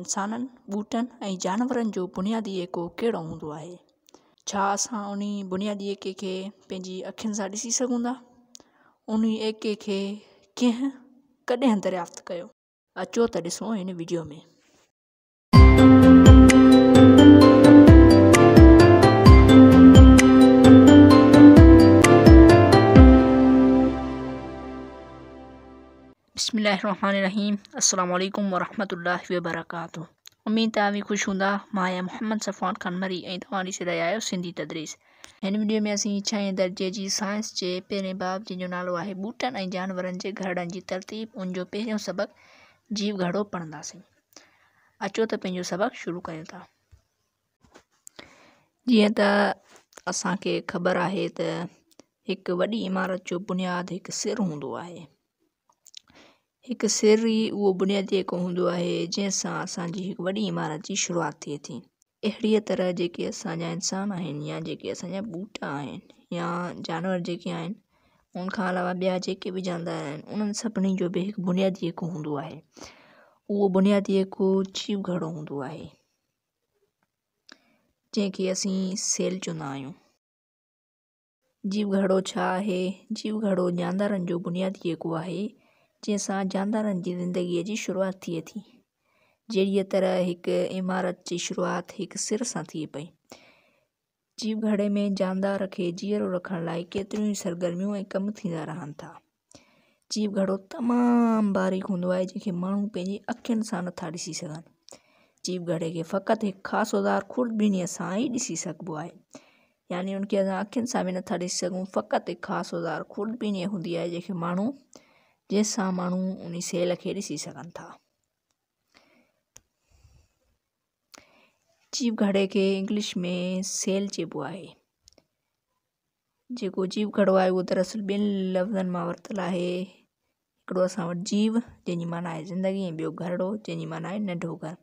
انسانن، ٻوٽن ۽ جانورن جو بنيادي ايڪو ڪهڙو هوندو آهي؟ ڇا اسان انهي بنيادي ايڪي کي پنهنجي اکين سان ڏسي سگهون ٿا؟ انهي ايڪي کي ڪنهن ڪڏهن دريافت ڪيو؟ اچو ته ڏسون هن وڊيو ۾. بسم الله الرحمٰن الرحيم السلام عليڪم ورحمة الله وبرڪاته اميد ته اوهين خوش هوندا مان آهيان محمد صفوان خان مري ۽ توهان ڏسي رهيا آهيو سنڌي تدريس هن وڊيو ۾ اسين ڇهين درجي جي سائنس جي پهرين باب جنهن جو نالو آهي ٻوٽن ۽ جانورن جي گهرڙن جي ترتيب ان جو پهريون سبق جيو گهرڙو پڙهنداسين اچو ته پنهنجو سبق شروع ڪريون ٿا جيئن ته اسان کي خبر آهي ته هڪ وڏي عمارت جو بنياد هڪ سر هوندو آهي هڪ سر ئي اهو بنيادي ايڪو هوندو آهي، جنهن سان اسان جي هڪ وڏي عمارت جي شروعات ٿئي ٿي. اهڙيء طرح جيڪي اسان جا انسان آهن يا جيڪي اسان جا ٻوٽا آهن يا جانور جيڪي آهن ان کان علاوه ٻيا جيڪي به جاندار آهن انهن سڀني جو به هڪ بنيادي ايڪو هوندو آهي. اهو بنيادي ايڪو جيو گهڙو هوندو آهي، جنهن کي اسين سيل چوندا آهيون. جيو گهڙو ڇا آهي؟ جيو گهڙو جاندارن جو بنيادي ايڪو آهي، جنهن سان جاندارن جي زندگيء جي شروعات ٿئي ٿي. جهڙيء طرح هڪ عمارت جي شروعات هڪ سر سان ٿئي پئي. جيو گهڙي ۾ جاندار کي جيئرو رکڻ لاء ڪيتريون ئي سرگرميون ۽ ڪم ٿيندا رهن ٿا. جيئن گهڙو تمام باريڪ هوندو آهي جنهن کي ماڻهو پنهنجي اکين سان نٿا ڏسي سگهن جيئن گهڙي کي فقط هڪ خاص اوزار خوردبينيء سان ئي ڏسي سگهبو آهي يعني ان کي اسان اکين سان به نٿا ڏسي سگهون فقط هڪ خاص اوزار خوردبينيء هوندي آهي جنهن کي ماڻهو جنهن سان ماڻهو ان سيل کي ڏسي سگهن ٿا جيئن گهڙي کي انگلش ۾ سيل چئبو آهي جيڪو جيو گهڙو آهي اهو دراصل ٻن لفظن مان ورتل آهي. هڪڙو اسان وٽ جيو جنهن جي معنيٰ آهي زندگي ۽ ٻيو گهڙو جنهن جي معنيٰ آهي ننڍو گهر.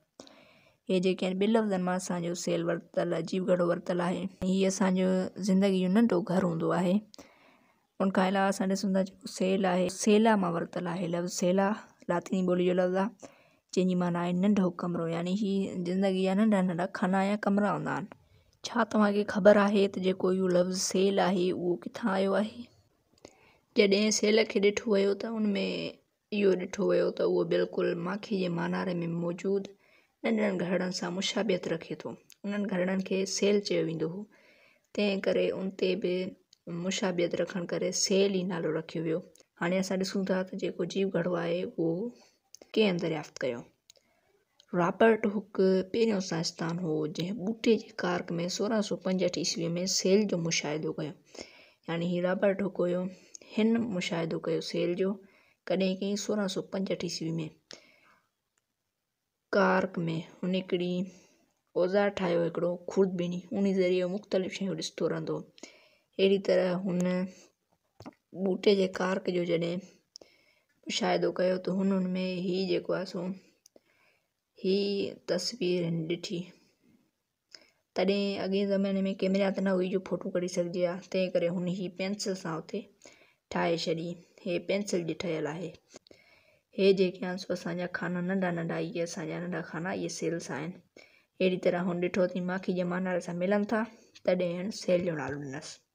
اهي جيڪي آهن ٻن لفظن مان اسان جو سيل ورتل جيو گهڙو ورتل آهي. هي اسان جو زندگي جو ننڍو گهر هوندو آهي. ان کان علاوه اسان ڏسون ٿا جيڪو سيل آهي سيلا مان ورتل آهي لفظ سيلا لاطيني ٻولي جو لفظ آهي. جنهن جي معنيٰ آهي ننڍو ڪمرو يعني هي زندگي جا ننڍا ننڍا خانا يا ڪمرا هوندا آهن ڇا توهان کي خبر آهي ته جيڪو اهو لفظ سيل آهي اهو ڪٿان آيو آهي جڏهن سيل کي ڏٺو ويو ته ان ۾ اهو ڏٺو ويو ته اهو بلڪل ماکي جي ماناري ۾ موجود ننڍڙن گهرڙن سان مشابهت رکي ٿو انهن گهرڙن کي سيل چيو ويندو هو تنهن ڪري ان تي به مشابهت رکڻ ڪري سيل ئي نالو رکيو ويو هاڻي اسان ڏسون ٿا ته جيڪو جيو گهڙو آهي اهو ڪنهن دريافت ڪيو؟ رابرٽ هوڪ پهريون سائنسدان هو جنهن ٻوٽي جي ڪارڪ ۾ سورهن سؤ پنجهٺ عيسويء ۾ سيل جو مشاهدو ڪيو. يعني هي رابرٽ هوڪ هيو. هن مشاهدو ڪيو سيل جو. ڪڏهن ڪيائين سورهن سؤ پنجهٺ عيسويء ۾ ڪارڪ ۾ هن هڪڙي اوزار ٺاهيو هو هڪڙو خوردبيني ان ذريعي هو مختلف شيون ڏسندو رهندو هو اهڙي طرح هن ٻوٽي جي ڪارڪ جو جڏهن مشاهدو ڪيو ته هن ان ۾ هي جيڪو آهي سو هي تصوير هن ڏٺي تڏهن اڳئي زماني ۾ ڪيمرا ته نه هئي جو ڦوٽو ڪڍي سگهجي آ تنهن ڪري هن هي پينسل سان اتي ٺاهي ڇڏي هي پينسل جي ٺهيل آهي هي جيڪي آهن سو اسانجا خانا ننڍا ننڍا اهي اسانجا ننڍا خانا اهي سيلس آهن اهڙي طرح هن ڏٺو ته ماکي جمع نالي سان ملن ٿا تڏهن هن سيل جو نالو ڏنس